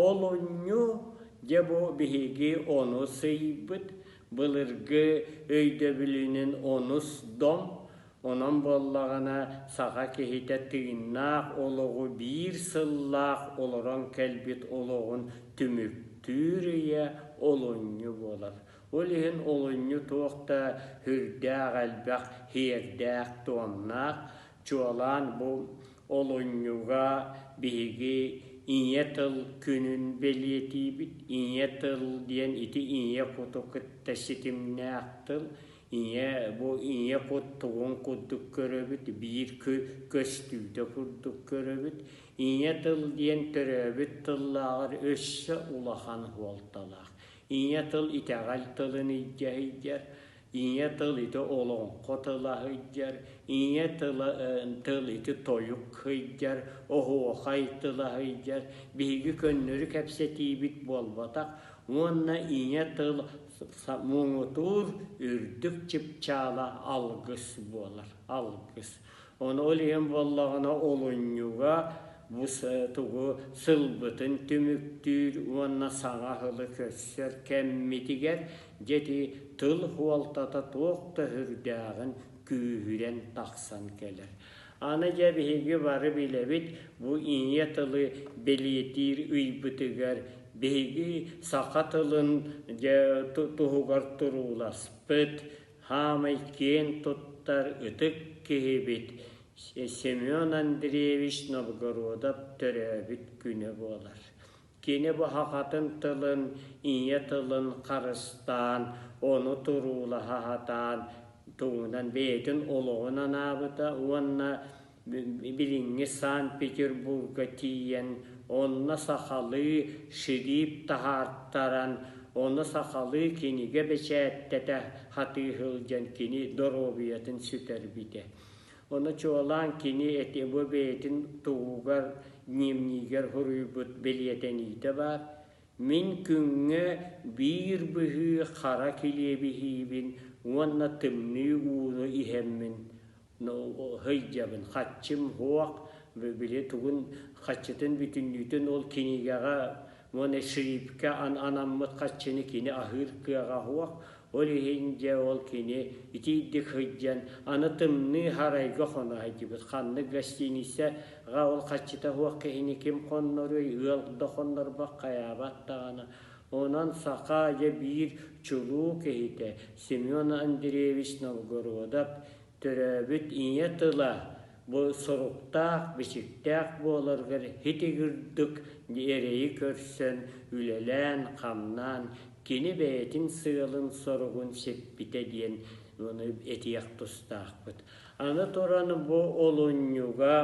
Ол онньу дьэ бу биһиги ону сыыйбыт былыргы өйдөбүлүнэн онус дом, онон буоллаҕына саха киһитэ тыыннаах олоҕу биир сыллаах олорон кэлбит олоҕун түмүктүүр ийэ олунньу буолар. Ол иһин олунньу туох да үрдээх элбэх, иһиэрдээх-туомнаах, чуолаан бу Олунньуга биһиги Ийэ тыл күнүн бэлиэтиибит. Ийэ тыл диэн ити ийэ куту кытта ситимнээх тыл. Ийэ бу ийэ кут тугун курдук көрөбүт, биир көстүүтэ курдук көрөбүт. Ийэ тыл диэн төрөөбүт тыллааҕар өссө улахан суолталаах. Ийэ тыл итэҕэл тылын илдьэ сылдьар. ийэ тыл ити олоҥхо тыла сылдьар, ийэ тыла тыл ити тойук сылдьар, оһуохай тыла сылдьар, биһиги көннөрү кэпсэтиибит буолбатах уонна ийэ тыл муҥутуур үрдүк чыпчаала алгыс буолар, алгыс. Ону илиэн буоллаҕына олунньуга бу тугу сылбытын түмүктүүр уонна саҥа сылы көрсөр кэммитигэр дьэти тыл хуолтата туох да үрдээҕин күүһүрэн тахсан кэлэр. Аны дьэ биһиги бары билэбит бу ийэ тылы бэлиэтиир ыйбытыгар биһиги саха тылын дьэ туһугар турууласпыт Хаамай киэн туттар ытык киһибит Семен Андреевич Новгородов төрөөбүт күнэ буолар. Кини буһахатын тылын, ийэ тылын харыстаан, ону туруулаһа сатаан, тугунан бэйэтин олоҕун анаабыта уонна Билиҥҥи Санкт-Петербурга тиийэн онно сахалыы шрип таһаартаран, ону сахалыы кинигэ бэчээттэтэ хатыыһылдьан кини доруобуйатын сүтэрбитэ. Ону чуолаан кини ити бу бэйэтин тугугар дневнигэр суруйбут бэлиэтэниитэ баар. Мин күҥҥэ биир быһыы хара килиэбиһиибин уонна тымныы ууну иһэммин Ноо, сылдьабын, хаччым, һуох, били тугун, хаччытын бүтүннүүтүн ол кинигэҕэ уонна шрипкэ анаммыт хаччыны кини аһыыр кыаҕа һуох, ол иһин дьэ ол кини итиийдик сылдьан аны тымныы сарайга хоно сылдьыбыт. Ханнык гостиницаҕа ол хаччыта һуох киһини ким хонноруй, ыал да хоннорбот хайаабат даҕаны. Онон саха дьэ биир чулуу киһитэ Семен Андреевич Новгородов Төрөөбүт ийэ тыла бу соруктаах-бичиктээх буоларыгар хитигирдик эрэйи көрсөн, үлэлээн-хамнаан, кини бэйэтин сыалын-соругун сиппитэ диэн ону этиэх тустаахпыт. Аны туран бу олунньуга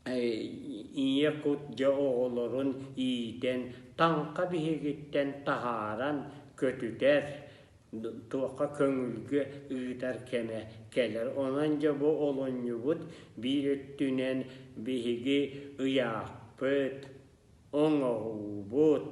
ийэ кут дьэ оҕолорун иитэн, таҥха биһигиттэн таһааран, көтүтэр, туохха көҥүлгэ ыытар кэмэ кэлэр. Онон дьэ бу олунньубут биир өттүнэн биһиги ыйаахпыт, оҥоһуубут,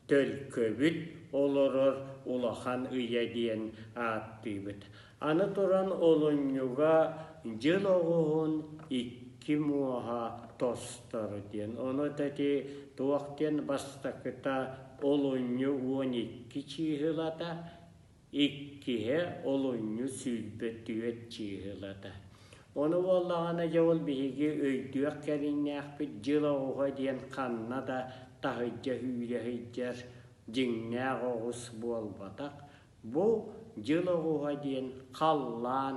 төлкөбүт олорор улахан ыйа диэн ааттыыбыт. Аны туран олунньуга дьыл оҕуһун икки муоһа тосторо диэн. Ону эти туох диэн бастакыта олунньу уон икки чыыһылата, иккиһэ олунньу сүүрбэ түөрт чыыһылата. Ону буоллаҕына дьэ ол биһиги өйдүөх кэриҥнээхпит дьыл оҕуһа диэн ханна да таһыддьа үүрэ сылдьар дьиҥнээх оҕус буолбатах. Бу дьыл оҕуһа диэн халлаан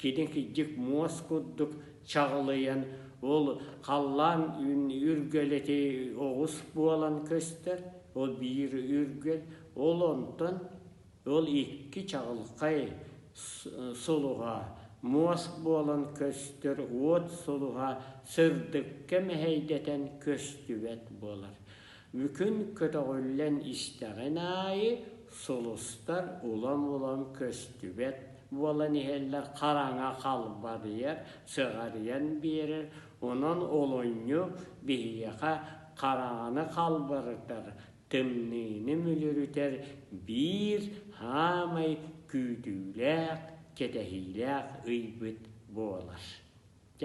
китэкидьик муос курдук чаҕылыйан, ол халлаан үргэлэти оҕус буолан көстөр, ол биир үргэл, ол онтон ол икки чаҕылхай сулуһа муос буолан көстөр уот сулуһа сырдыкка мэһэйдэтэн көстүбэт буолар. Мүкүн көтөҕүллэн истэҕин аайы, сулустар улам-улам көстүбэт буолан иһэллэр, хараҥа халбарыйар, сыҕарыйан биэрэр, онон олунньу биһиэхэ хараҥаны халбарытар, тымныыны мүлүрүтэр биир саамай күүтүүлээх, кэтэһиилээх ыйбыт буолар. Дьэ,